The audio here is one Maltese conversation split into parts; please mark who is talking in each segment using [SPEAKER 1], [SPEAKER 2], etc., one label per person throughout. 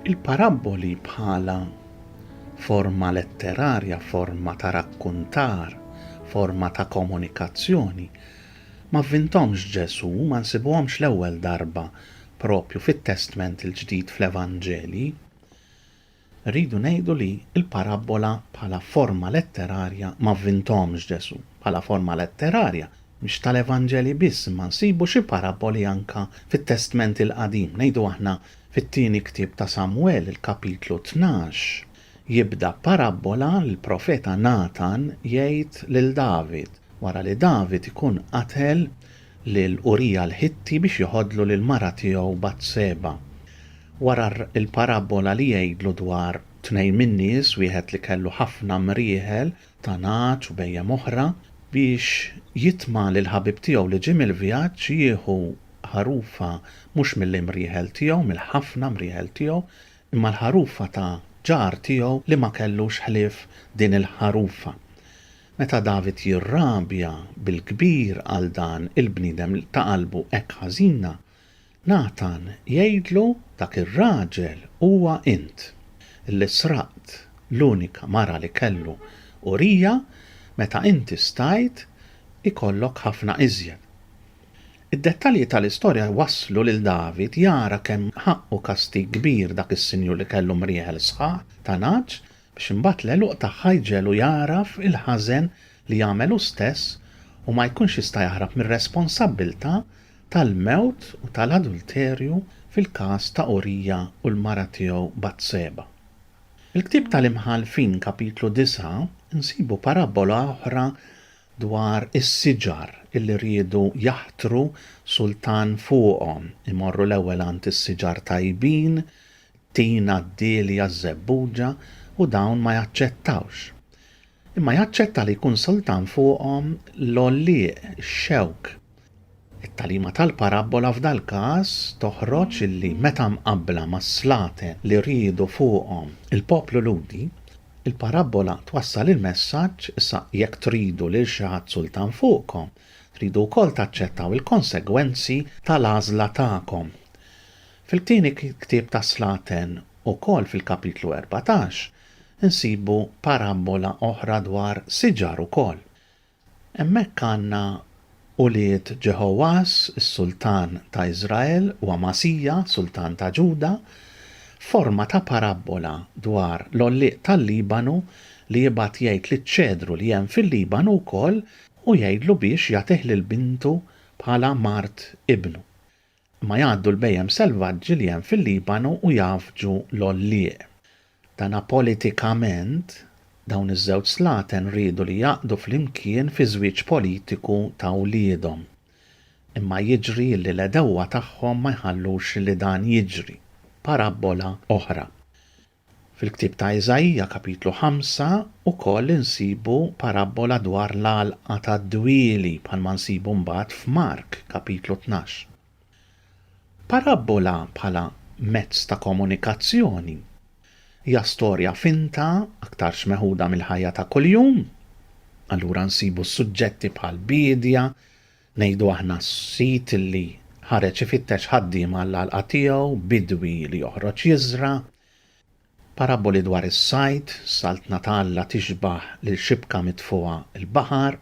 [SPEAKER 1] Il-parabboli bħala forma letterarja, forma ta' rakkuntar, forma ta' komunikazzjoni. Ma vintomx Ġesu, ma nsibuhomx l-ewwel darba propju fit-Testment il-Ġdid fl-Evanġelji, irridu ngħidu li l-parabbola bħala forma letterarja ma vvinthomx Ġesù. Bħala forma letterarja, mhix tal-Evanġelji biss imma nsibu xi parabboli anke fit-Testment il-Qadim, ngħidu aħna fit-tieni ktieb ta' Samwel, il-kapitlu tnax, Jibda parabbola li l-profeta Natan jgħid lil David wara li David ikun qatel lil Urija l-Ħitti biex jeħodlu lill-mara tiegħu Batseba. Wara l-parabbola li jgħidlu dwar tnejn min-nies, wieħed li kellu ħafna mrieħel ta' nagħaġ u bhejjem oħra, biex jitma' li l-ħabib tiegħu li ġie mill-vjaġġ jieħu ħarufa mhux mill-imrieħel tiegħu, mill-ħafna mrieħel tiegħu, Imma l-ħarufa ta' ġar tiegħu li ma kellux ħlief din il-ħarufa. Meta David jirrabja bil-kbir għal dan il-bniedem ta' qalbu hekk ħażina, Natan jgħidlu dak ir-raġel huwa int, li sraqt l-unika mara li kellu, Urija, meta inti stajt ikollok ħafna iżjed. Id-dettalji tal-istorja jwasslu lil David jara kemm ħaqqu kastig kbir dak is-sinjur li kellu mrieħel sħaħ ta' nagħaġ biex imbagħad l-għeluq tagħha jġegħlu jagħraf il-ħażen li għamel hu stess u ma jkunx jista' jaħrab mir-responsabbiltà tal-mewt u tal-adulterju fil-każ ta' Urija u l-mara tiegħu Batseba. Fil-Ktieb tal-Imħallfin, Kapitlu 9, insibu parabbola oħra dwar is-siġar illi riedu jaħtru sultan fuqhom, imorru l-ewwel għand is-siġar tajbin, t-tina, d-dielja, ż-żebbuġa, u dawn ma jaċċettawx. Imma jaċċetta li jkun sultan fuqhom l-għollieq, ix-xewk, It-tagħlima tal-parabbola f'dal-każ toħroġ li meta mqabbla mas-slaten li riedu fuqhom il-poplu Lhudi, il-parabbola twassal il-messaġġ, Issa jekk tridu lil xi ħadd sultan fuqkom, tridu wkoll taċċettaw il-konsegwenzi tal-għażla tagħkom. Fil-tieni ktieb tas-slaten, ukoll fil-kapitlu erbatax, insibu parabbola oħra dwar siġar ukoll. Hemmhekk għandna ulied Ġeħogħax, is-sultan ta' Iżrael, u Amasija, sultan ta' Ġuda, f'forma ta' parabbola dwar l-għollieq tal-Libanu li jibgħat jgħid liċ-ċedru li hemm fil-Libanu wkoll u jgħidlu biex jagħtih lil bintu bħala mart ibnu. Imma jgħaddu l-bhejjem selvaġġi li hemm fil-Libanu u jgħaffġu l-għollieq. Dana politikament, dawn iż-żewġ slaten riedu li jgħaqqdu flimkien fi żwieġ politiku ta' wliedhom. Imma jiġri li l-għedewwa tagħhom ma jħallux li dan jiġri. Parabbola oħra. Fil-ktieb ta' Iżaija, kapitlu ħamsa, ukoll insibu parabbola dwar l-għalqa tad-dwieli bħalma nsibu mbagħad f'Mark, kapitlu tnax. Parabbola bħala mezz ta' komunikazzjoni hija storja finta aktarx meħuda mill-ħajja ta' kuljum. Allura nsibu suġġetti bħal biedja, Ngħidu aħna s-sid li ħareġ ifittex ħaddiema għall-għalqa tiegħu, bidwi li joħroġ jiżra', paraboli dwar is-sajd, Saltna ta' Alla tixbah lil xibka mitfugħa l-baħar,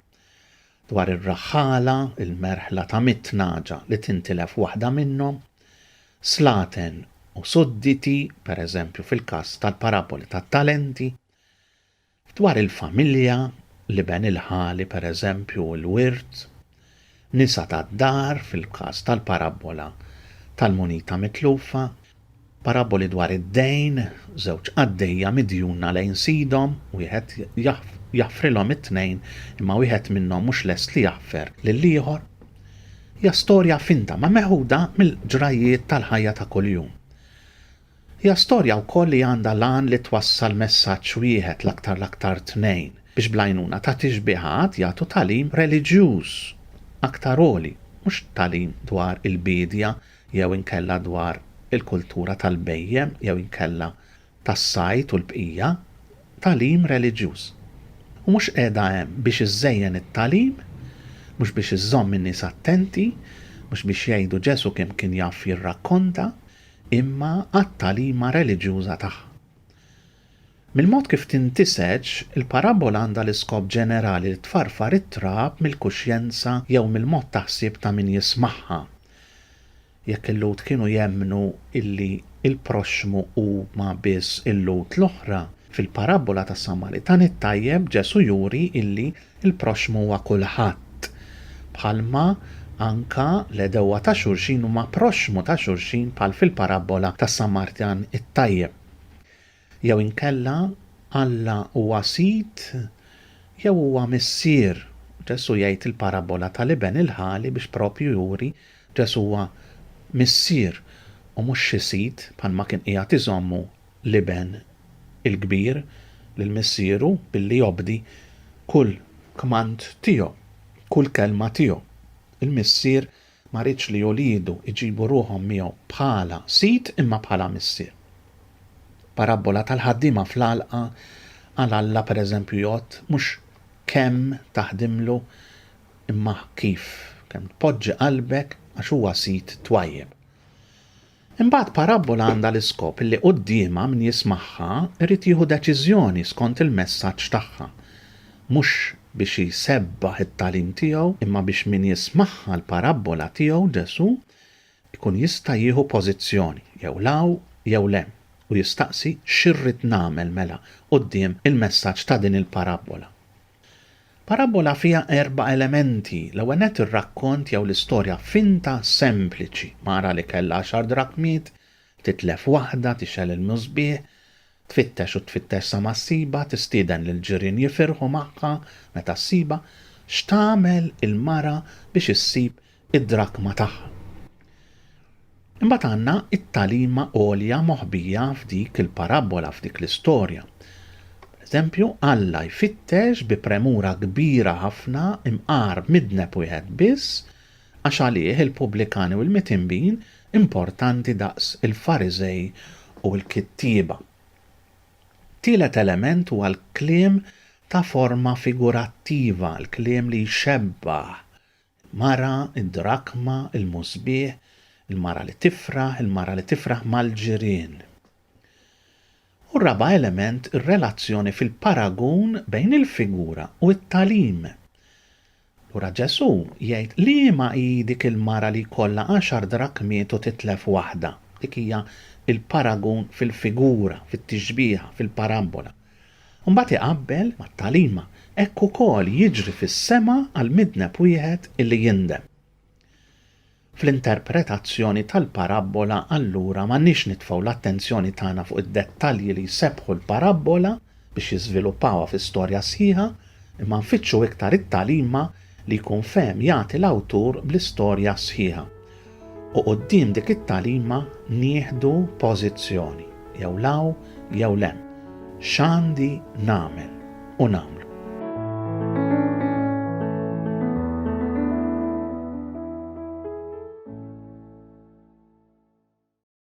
[SPEAKER 1] dwar ir-raħħala, il-merħla ta' mitt nagħġa li tintilef waħda minnhom, slaten u sudditi, pereżempju fil-każ tal-paraboli tat-talenti. Dwar il-familja, l-iben il-ħali, per eżempju, u l-wirt, nisa tad-dar, fil-każ tal-parabbola tal-munita mitlufa, parabboli dwar id-dejn, żewġ qaddejja midjuna lejn sidhom, wieħed jaħfrilhom it-tnejn imma wieħed minnhom mhux lest li jaħfer lill-ieħor, hija storja finta ma meħuda mill-ġrajjiet tal-ħajja ta' kuljum. Hija storja wkoll li għandha l-għan li twassal messaġġ wieħed, l-aktar l-aktar tnejn, biex bl-għajnuna ta' tixbiha għad jagħtu tagħlim reliġjuż aktar għoli, mhux tagħlim dwar il-biedja jew inkella dwar il-kultura tal-bhejjem jew inkella tas-sajd u l-bqija, tagħlim reliġjuż. U mhux qiegħda hemm biex iżżejjen it-tagħlim, mhux biex iżżomm in-nies attenti, mhux biex jgħidu Ġesù kemm kien jaf jirrakkonta, imma għat-tagħlima reliġjuża tagħha. Mill-mod kif tintiseġ, il-parabbola għandha l-iskop ġenerali li tfarfar it-trab mill-kuxjenza jew mill-mod ta' ħsieb ta' min jismagħha. Jekk il-Lhud kienu jemmnu illi l-proxxmu huma biss il-Lhud l-oħra, fil-parabbola tas-Samaritan it-tajjeb Ġesù juri illi Il-proxxmu huwa kulħadd. Bħalma anka l-għedewwa ta' xulxin huma proxxmu ta' xulxin bħal fil-parabbola tas-Samartan it-tajjeb. Jew inkella Alla huwa sid jew huwa missier. Ġesù jgħid il-parabbola tal-iben il-ħali biex proprju juri Ġesù huwa missier u mhux xi sid bħalma kien qiegħed iżommu l-iben il-kbir lil missieru billi jobdi kull kmand tiegħu, kull kelma tiegħu. Il-missier ma riedx li uliedu jġibu ruħhom miegħu bħala sid imma bħala missier. Parabbola tal-ħaddiema fl-għalqa għal Alla pereżempju jgħodd mhux kemm taħdimlu imma kif, kemm tpoġġi qalbek għax huwa sid twajjeb. Imbagħad parabbola għandha l-iskop li quddiemha min jismagħha jrid jieħu deċiżjoni skont il-messaġġ tagħha, mhux biex jsebbaħ it-tagħlim tiegħu, imma biex min jismagħha l-parabbola tiegħu, Ġesù, ikun jista' jieħu pożizzjoni, jew 'l hawn jew 'l hemm, u jistaqsi xi rrid nagħmel mela quddiem il-messaġġ ta' din il-parabbola. Parabbola fiha erba' elementi, l-ewwel nett ir-rakkont jew l-istorja finta sempliċi, mara li kellha għaxar drakmiet, titlef waħda, tixgħel il-musbieħ, tfittex u tfittex sa ma ssibha, tistieden lill-ġirien jifirħu magħha meta ssibha, x'tagħmel il-mara biex issib id-drakma tagħha. Imbagħad għandna t-tagħlima għolja moħbija f'dik il-parabbola, f'dik l-istorja. Pereżempju, Alla jfittex bi premura kbira ħafna imqar midneb wieħed biss għax għalih il-pubblikani u l-mitinbin importanti daqs il-Fariżej u l-kittieba. Tielet element huwa l-kliem ta' forma figurattiva, l-kliem li jxebbah Mara, id-drakma, il-musbieħ, il-mara li tifraħ, il-mara li tifraħ mal-ġirien. U r-raba' element, ir-relazzjoni fil-paragun bejn il-figura u t-tagħlim. Lura Ġesù jgħid liema hi dik il-mara li jkollha għaxar drakmiet u titlef waħda. Dik hija l-paragun fil-figura, fit-tixbiha, fil-parabbola. u mbagħad iqabbel mat-tagħlima, hekk ukoll jiġri fis-sema għal midneb wieħed illi jindem. Fl-interpretazzjoni tal-parabbola allura m'għandniex nitfgħu l-attenzjoni tagħna fuq id-dettalji li jsebbħu l-parabbola biex jiżviluppawha fi storja sħiħa, imma nfittxu iktar it-tagħlima li jkun fehem jagħti l-awtur bl-istorja sħiħa, u quddiem dik it-tagħlima nieħdu pożizzjoni, jew 'l hawn jew 'l hemm, x'għandi nagħmel u nagħmlu.